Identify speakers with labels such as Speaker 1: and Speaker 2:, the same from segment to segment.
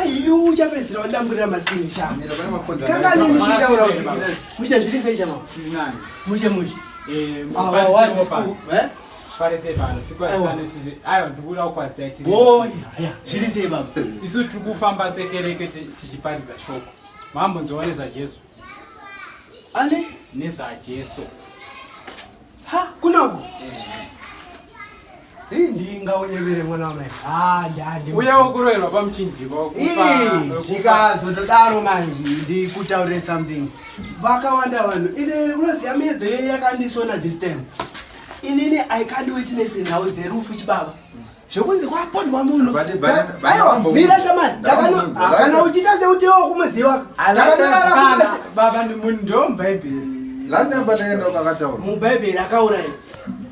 Speaker 1: aiu
Speaker 2: chapedzisira wandamburira masini chakanga
Speaker 3: nini chitaura
Speaker 2: kuti mushe zviri sei chama mushe
Speaker 1: mushe zviri
Speaker 2: sei baba isu tiri kufamba
Speaker 1: sekereke tichiparidza shoko mambonzwa nezvajesu
Speaker 2: ane nezvajesu Ha, kuna uko. Hii ndi ngaonyevere mwana wamai. Ah, ndandi. Uya wokurerwa
Speaker 1: pamuchinjiko wokupa.
Speaker 2: Ndikazotodaro manje ndikutaurire something. Vakawanda vanhu. Ine unoziva miyedzo yeye yakandisona this time. Inini I can't witness nhau dzerufu chibaba. zvekunzi kwapondwa munhu aiwa mira shamani kana uchita sekuti iwo kumuziva takanyorarababa
Speaker 1: munhu ndo mubhaibheri last time pataenda
Speaker 3: ukakataura mubhaibheri akauraya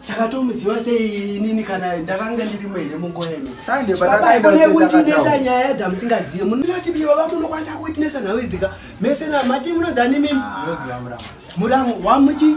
Speaker 2: saka tomuziva sei inini kana ndakanga ndirimo here munguva inoaikunekuntinesa
Speaker 3: nyaya
Speaker 2: dzamusingazive munoti baba munokwanisa kuitinesa nhau idzika mese namati munodzani mimi
Speaker 1: muramu wamuchi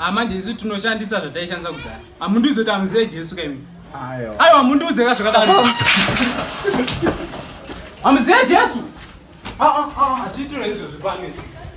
Speaker 3: Ah, manje
Speaker 1: isu tinoshandisa zvataishandisa kudhara hamundiudze kuti hamuzive jesu kaimi aiwa hamundiudze
Speaker 3: ka zvakadaro
Speaker 1: hamuzive jesu ah, ah, hatiitire izvozvi pano